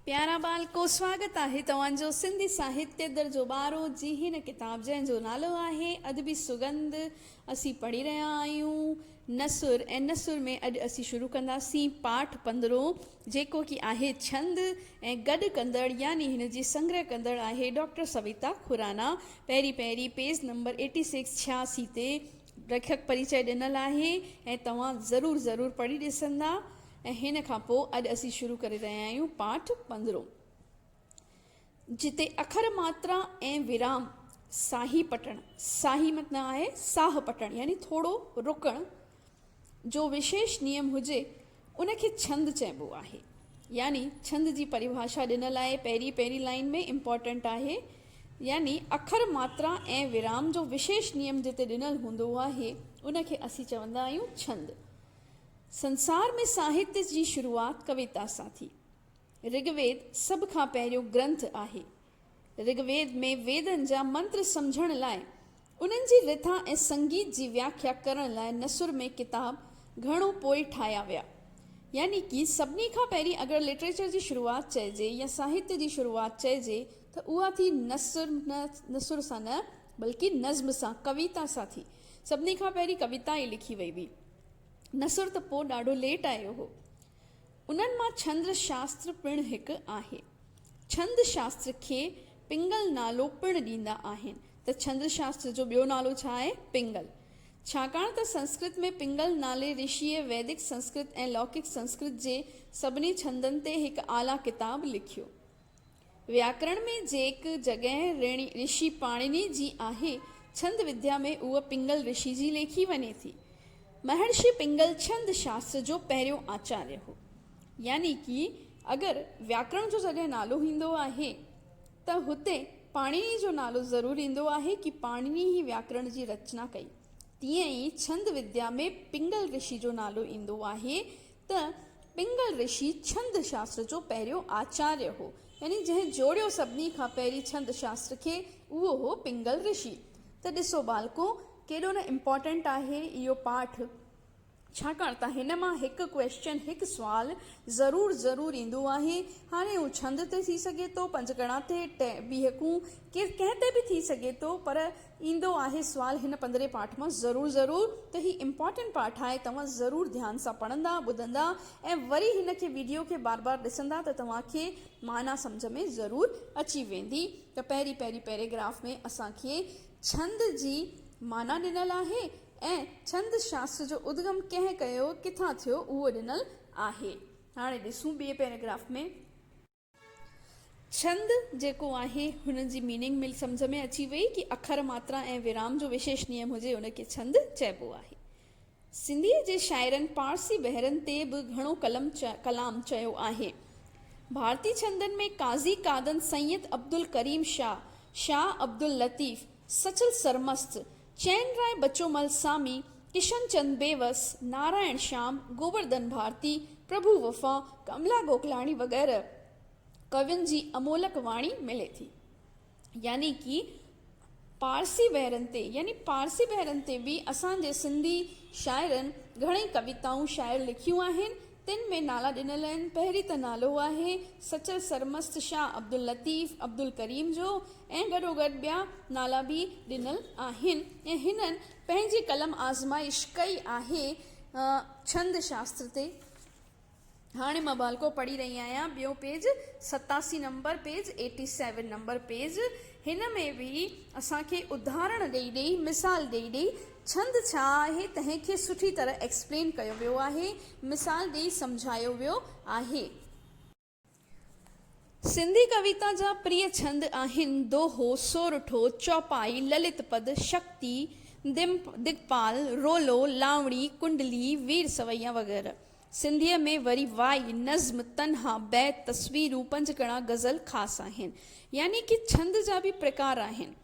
پيارا ٻال ڪو سواگت آهي توهان جو سنڌي ساهتيه در جو ٻارو جي هن ڪتاب جنهن جو نالو آهي ادبي سڳنڌ اسين پڙهي رهيا آهيون نثر ۽ نثر ۾ اڄ اسين شروع ڪنداسين پاٺ پندرهون جيڪو ڪي آهي ڇند ۽ گڏ ڪندڙ يعني هن جي سنگرهه ڪندڙ آهي ڊاڪٽر سويتا خورانا پهرين پهرين پيج نمبر ايٽي سڪس ڇياسي تي ليکڪ پريچئه ڏنل آهي ۽ توهان ضرور ضرور پڙهي ڏسندا ۽ هن کان پوء اڄ اسين شروع ڪري رهيا آهيون پاٺ پندرهون، جتي اکر ماترا ۽ ورام ساهي پٽڻ، ساهي متنا آهي ساهه پٽڻ يعني ٿورو رڪڻ، جو وشيش نيم هجي، ان کي ڇند چئبو آهي. يعني ڇند جي پريڀاشا ڏنل آهي، پهرين پهرين لائين ۾ امپارٽنٽ آهي، يعني اکر ماترا ۽ ورام جو وشيش نيم جتي ڏنل هوندو آهي، ان کي اسين چوندا آهيون ڇند. سنسار ۾ ساهتيه جي شروعات ڪويتا سان ٿي. رگ ويد سڀ کان پهريون گرنٿ آهي. رگ ويد ۾ ويدن جا منتر سمجهڻ لاء، انهن جي رٿا ۽ سنگيت جي وياکيا ڪرڻ لاء نثر ۾ ڪتاب گهڻو پوء ٺاهيا ويا. يعني ڪي سڀني کان پهرين اگر لٽريچر جي شروعات چئجي يا ساهتيه جي شروعات چئجي ته اها ٿي نثر نه نثر سان نه بلڪه نظم سان، ڪويتا سان ٿي. سڀني کان پهرين ڪويتا ئي لکي وئي هئي. نثر ته پوء ڏاڍو ليٽ آيو هو. انهن مان ڇند شاستر پڻ هڪ آهي. ڇند شاستر کي پنگل نالو پڻ ڏيندا آهن ته ڇند شاستر جو ٻيو نالو ڇا آهي؟ پنگل. ڇاڪاڻ ته سنسڪرت ۾ پنگل نالي رشيء ويدڪ سنسڪرت ۽ لوڪڪ سنسڪرت جي سڀني ڇندن تي هڪ اعليٰ ڪتاب لکيو. وياڪرڻ ۾ جيڪ جڳهه رشي پاڻني جي آهي ڇند وديا ۾ اهو پنگل رشي جي ليکي وڃي ٿي مهرشي پنگل ڇند شاستر جو پهريون آچاريه هو يعني ڪي اگر وياڪرڻ جو جڏهن نالو ايندو آهي ته هتي پاڻني جو نالو ضرور ايندو آهي ڪي پاڻني ئي وياڪرڻ جي رچنا ڪئي تيئن ئي ڇند وديا ۾ پنگل رشي جو نالو ايندو آهي ته پنگل رشي ڇند شاستر جو پهريون آچاريه هو، يعني جنهن جوڙيو سڀني کان پهرين ڇند شاستر کي، اهو هو پنگل رشي. ته ڏسو ٻالڪو، ڪيڏو نه امپارٽنٽ آهي اهو پاٺ، ڇاڪاڻ ته هن مان هڪ ڪويسچن، هڪ سوال، ضرور ضرور ايندو آهي. هاڻي هو ڇند تي ٿي سگهي ٿو، پنجگڻا تي، ٽئين، ٻيهڪون، ڪير ڪنهن تي به ٿي سگهي ٿو، پر ايندو آهي سوال هن پندرهين پارٽ مان ضرور ضرور ته هي امپارٽنٽ پارٽ آهي توهان ضرور ڌيان سان پڙهندا ٻڌندا ۽ وري هن کي ويڊيو کي بار بار ڏسندا ته توهان کي معنيٰ سمجهه ۾ ضرور اچي ويندي ته پهرين پهرين پيريگراف ۾ اسان کي ڇند جي معنيٰ ڏنل آهي ۽ ڇند شاستر جو ادگم ڪنهن ڪيو ڪٿان ٿيو اهو ڏنل آهي هاڻي ڏسون ٻئي پيريگراف ۾ ڇند جيڪو آهي هن جي ميننگ مل سمجهه ۾ اچي وئي ڪي اکر ماترا ۽ ورام جو وشيش نيم هجي ان کي ڇند چئبو آهي سنڌي جي شاعرن پارسي بحرن تي به گهڻو قلم ڪلام چيو آهي ڀارتي ڇندن ۾ قاضي قادن سيد عبدالڪريم شاهه شاهه عبداللطيف سچل سرمست چين راء بچومل سامي، ڪشن چند بيوس، نارائڻ شيام، گوورڌن ڀارتي، پرڀو وفا، ڪملا گوڪلاڻي وغيره ڪوين جي امولڪ واڻي ملي ٿي. يعني ڪي پارسي بحرن تي يعني پارسي بحرن تي به اسان جي سنڌي شاعرن گهڻئي ڪويتائون شاعر لکيون آهن تن ۾ نالا ڏنل آهن، پهرين ته نالو آهي سچل سرمست شاهه عبداللطيف عبدالڪريم جو ۽ گڏوگڏ ٻيا نالا به ڏنل آهن ۽ هنن پنهنجي قلم آزمائش ڪئي آهي ڇند شاستر تي. هاڻي مان ڀالڪو پڙهي رهي آهيان، ٻيو پيج ستاسي number page, Eighty Seven number page, هن ۾ به اسان کي ادهارڻ ڏئي ڏئي مثال ڏئي ڏئي ڇند ڇا آهي تنهن کي سٺي طرح ايڪسپلين ڪيو ويو آهي مثال ڏئي سمجهايو ويو آهي. سنڌي ڪويتا جا پريئي ڇند آهن دوهو، سورٺو، چوپائي، للت پد، شڪتي، دگپال، رولو، لاوڻي، ڪنڊلي، وير سوئيا وغيره. سنڌيء ۾ وري وائي، نظم، تنها، بيت، تصوير، روپنج ڪڻا غزل خاص آهن. يعني ڪي ڇند جا به پرڪار آهن.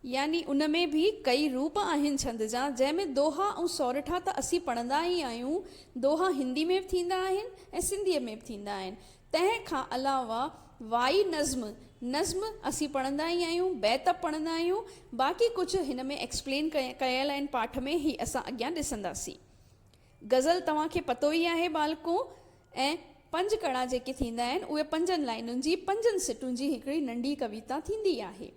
يعني ان ۾ به ڪئي روپ آهن ڇند جا، جنهن ۾ دوها ۽ سورٺا ته اسين پڙهندا ئي آهيون. دوها هندي ۾ به ٿيندا آهن ۽ سنڌيء ۾ به ٿيندا آهن. تنهن کان علاوه وائي، نظم، نظم اسين پڙهندا ئي آهيون، بيت به پڙهندا آهيون. باقي ڪجهه هن ۾ ايڪسپلين ڪيل آهن پاٺ ۾، هي اسان اڳيان ڏسنداسين. غزل توهان کي پتو ئي آهي ٻالڪو ۽ پنج ڪڙا جيڪي ٿيندا آهن اهي پنجن لائنن جي پنجن سٽون جي هڪڙي ننڍي ڪويتا ٿيندي آهي.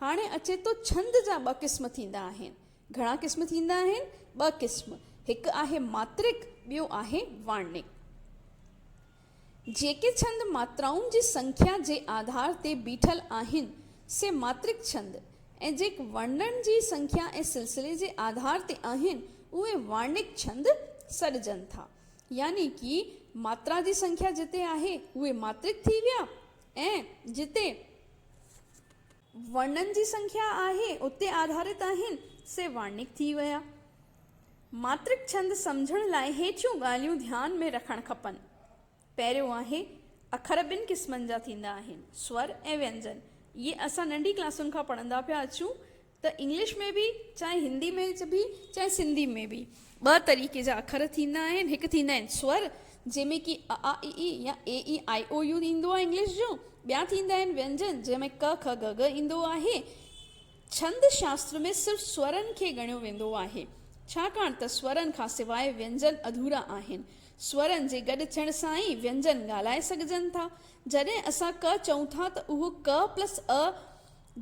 هاڻي اچي ٿو ڇند جا ٻه قسم ٿيندا آهن. گهڻا قسم ٿيندا آهن؟ ٻه قسم. هڪ آهي ماترڪ ٻيو آهي وارنڪ. جيڪي ڇند ماترائن جي سنکيا جي آڌار تي بيٺل آهن، سي ماترڪ ڇند ۽ جيڪ ورڻن جي سنکيا ۽ سلسلي جي آڌار تي آهن، اهي ورڻڪ ڇند سڏجن ٿا. يعني ڪي ماترا جي سنکيا جتي آهي، اهي ماترڪ ٿي ويا ۽ جتي. ورنن جي سنکيا آهي، اتي آڌارت آهن، سي وارنڪ ٿي ويا. ماترڪ ڇند سمجهڻ لاء هيٺيون ڳالهيون ڌيان ۾ رکڻ کپن. پهريون آهي، اکر ٻن قسمن جا ٿيندا آهن، سور ۽ وينجن. اهي اسان ننڍي ڪلاسن کان پڙهندا پيا اچون ته انگلش ۾ به، چاهي هندي ۾ به، چاهي سنڌي ۾ به. ٻه طريقي جا اکر ٿيندا آهن، هڪ ٿيندا آهن سور، جنهن ۾ ڪي ا، آ، اي، اي يا اي، اي، آء، او، يو ايندو آهي انگلش جو، ٻيا ٿيندا آهن وينجن، جنهن ۾ ڪه، که، ڳه، ڳه ايندو آهي. ڇند شاستر ۾ صرف سورن کي ڳڻيو ويندو آهي، ڇاڪاڻ ته سورن کان سواء وينجن اڌورا آهن. سورن جي گڏ ٿيڻ سان ئي وينجن ڳالهائي سگهجن ٿا. جڏهن اسان ڪه چئون ٿا ته اهو ڪه پلس ء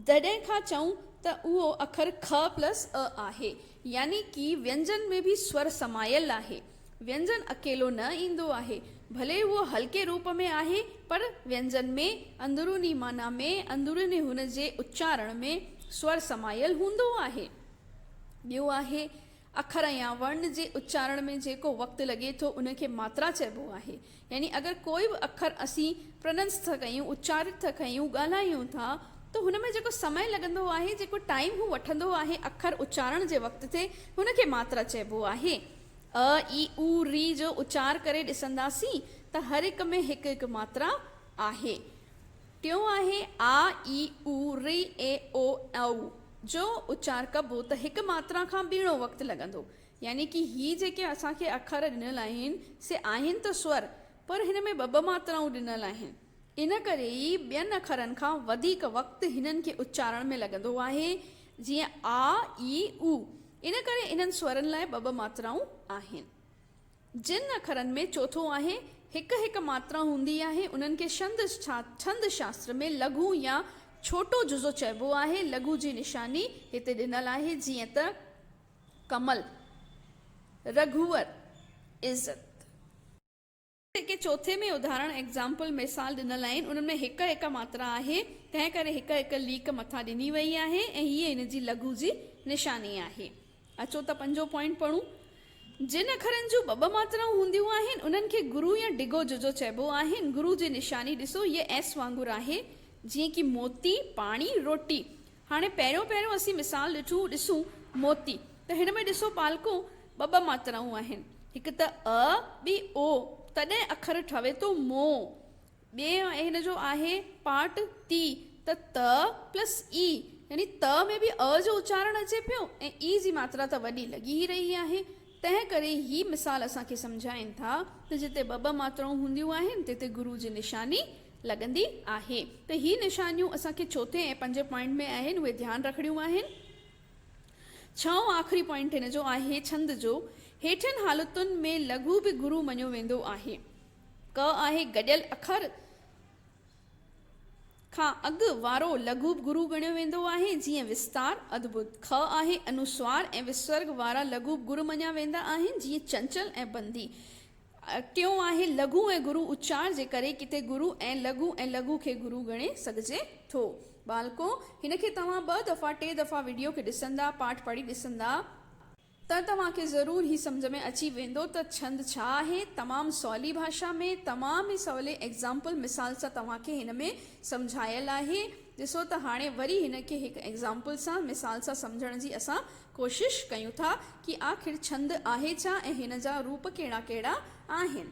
جڏهن کان چئون ته اهو اکر کء پلس ء آهي، يعني ڪي وينجن ۾ به سور سمايل آهي. وينجن اڪيلو نه ايندو آهي، ڀلي اهو هلڪي روپ ۾ آهي، پر وينجن ۾ اندروني معنيٰ ۾، اندروني هن جي اچارڻ ۾، سور سمايل هوندو آهي. ٻيو آهي، اکر يا ورڻ جي اچارڻ ۾ جيڪو وقت لڳي ٿو ان کي ماترا چئبو آهي. يعني اگر ڪوئي به اکر اسين Pronunce ٿا ڪيون، اچارت ٿا ڪيون، ڳالهايون ٿا ته هن ۾ جيڪو سمئي لڳندو آهي، جيڪو ٽائيم هو وٺندو آهي اکر اچارڻ جي وقت تي هن کي ماترا چئبو آهي. ء، اي، او، ري جو اچار ڪري ڏسنداسين ته هر هڪ ۾ هڪ هڪ ماترا آهي. ٽيون آهي آ، اي، او، ري، اي، او، او جو اچار ڪبو ته هڪ ماترا کان ٻيڻو وقت لڳندو. يعني ڪي هي جيڪي اسان کي اکر ڏنل آهن سي آهن ته سور پر هن ۾ ٻه ٻه ماترائون ڏنل آهن. ان ڪري ئي ٻين اکرن کان وڌيڪ وقت هنن کي اچارڻ ۾ لڳندو آهي جيئن آ، اي، او. ان ڪري انهن سورن لاء ٻه ٻه ماترائون آهن. جن اکرن ۾ چوٿون آهي، هڪ هڪ ماترا هوندي آهي، انهن کي شند ڇند شاستر ۾ لگهو يا ڇوٽو جزو چئبو آهي. لگهو جي نشاني هتي ڏنل آهي، جيئن ته، ڪمل، رگهور، عزت. هڪ هڪ چوٿين ۾ اداهرڻ، Example، مثال ڏنل آهن، انهن ۾ هڪ هڪ ماترا آهي، تنهن ڪري هڪ هڪ ليڪ مٿان ڏني وئي آهي ۽ هيء ان جي لگهو جي نشاني آهي. اچو ته پنجون پوائنٽ پڙهون. جن اکرن جون ٻه ٻه ماترائون هونديون آهن، انهن کي گرو يا ڊگهو ججو چئبو آهي. گرو جي نشاني ڏسو، هيء ايس وانگر آهي، جيئن ڪي موتي، پاڻي، روٽي. هاڻي پهريون پهريون اسين مثال ڏٺو، ڏسون موتي، ته هن ۾ ڏسو پالڪون ٻه ٻه ماترائون آهن، هڪ ته ء، ٻي او، تڏهن اکر ٺهي ٿو مو. ٻئي هن جو آهي پارٽ تي ته ت پلس ئي يعني ت ۾ به ء جو اچارڻ اچي پيو ۽ ئي جي ماترا ته وڏي لڳي ئي رهي آهي. تنهن ڪري هي مثال اسان کي سمجهائين ٿا ته جتي ٻه ٻه ماترائون هونديون آهن تتي گرو جي نشاني لڳندي آهي ته هي نشانيون اسان کي چوٿين ۽ پنجين پوائنٽ ۾ آهن اهي ڌيان رکڻيون آهن. ڇهون آخري پوائنٽ هن جو آهي ڇند جو هيٺين حالتن ۾ لگهو به گرو مڃيو ويندو آهي. ڪ آهي گڏيل اکر کان اڳ وارو لگهو به گرو ڳڻيو ويندو آهي، جيئن وستار، ادڀت. کء آهي انوسوار ۽ وسرگ وارا لگهو به گر مڃيا ويندا آهن، جيئن چنچل ۽ بندي. ٽيون آهي لگهو ۽ گرو اچار جي ڪري ڪٿي گرو ۽ لگهو ۽ لگهو کي گرو ڳڻي سگهجي ٿو. ٻالڪو! هن کي توهان ٻه دفعا ٽي دفعا وڊيو کي ڏسندا، پاٺ پڙهي ڏسندا. ته توهان کي ضرور هي سمجهه ۾ اچي ويندو ته ڇند ڇا آهي. تمام سولي ڀاشا ۾، تمام ئي سولي ايگزامپل، مثال، سان توهان کي هن ۾ سمجهايل آهي. ڏسو ته هاڻي وري هن کي هڪ ايگزامپل سان، مثال سان سمجهڻ جي اسان ڪوشش ڪيون ٿا ڪي آخر ڇند آهي ڇا ۽ هن جا روپ ڪهڙا ڪهڙا آهن.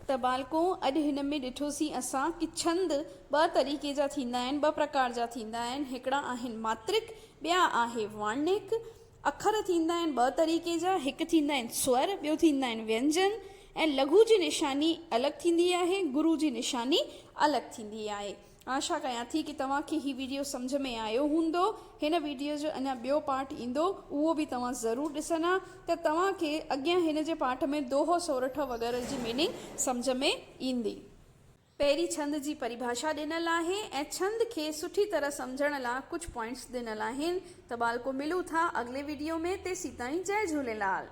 ته ٻالڪو اڄ هن ۾ ڏٺوسين اسان ڪي ڇند ٻه طريقي جا ٿيندا آهن، ٻه پرڪار جا ٿيندا آهن، هڪڙا آهن ماترڪ، ٻيا آهي وارنيڪ. اکر ٿيندا آهن ٻه طريقي جا، هڪ ٿيندا آهن سور، ٻيو ٿيندا آهن وينجن ۽ لگهو جي نشاني الڳ ٿيندي آهي، گرو جي نشاني الڳ ٿيندي آهي. آشا ڪيان ٿي ڪي توهان کي هي ويڊيو سمجهه ۾ آيو هوندو هن ويڊيو جو اڃان ٻيو پارٽ ايندو اهو به توهان ضرور ڏسندا ته توهان کي اڳيان هن جي پارٽ ۾ دوهو سورٺ وغيره جي ميننگ سمجهه ۾ ايندي. پهرين ڇند جي پريڀاشا ڏنل آهي ۽ ڇند کي سٺي طرح سمجهڻ لا ڪجهه پوائنٽس ڏنل آهن ته ٻالڪو ملون ٿا اڳلي ويڊيو ۾ تيسيتائين جئي جهوليلال.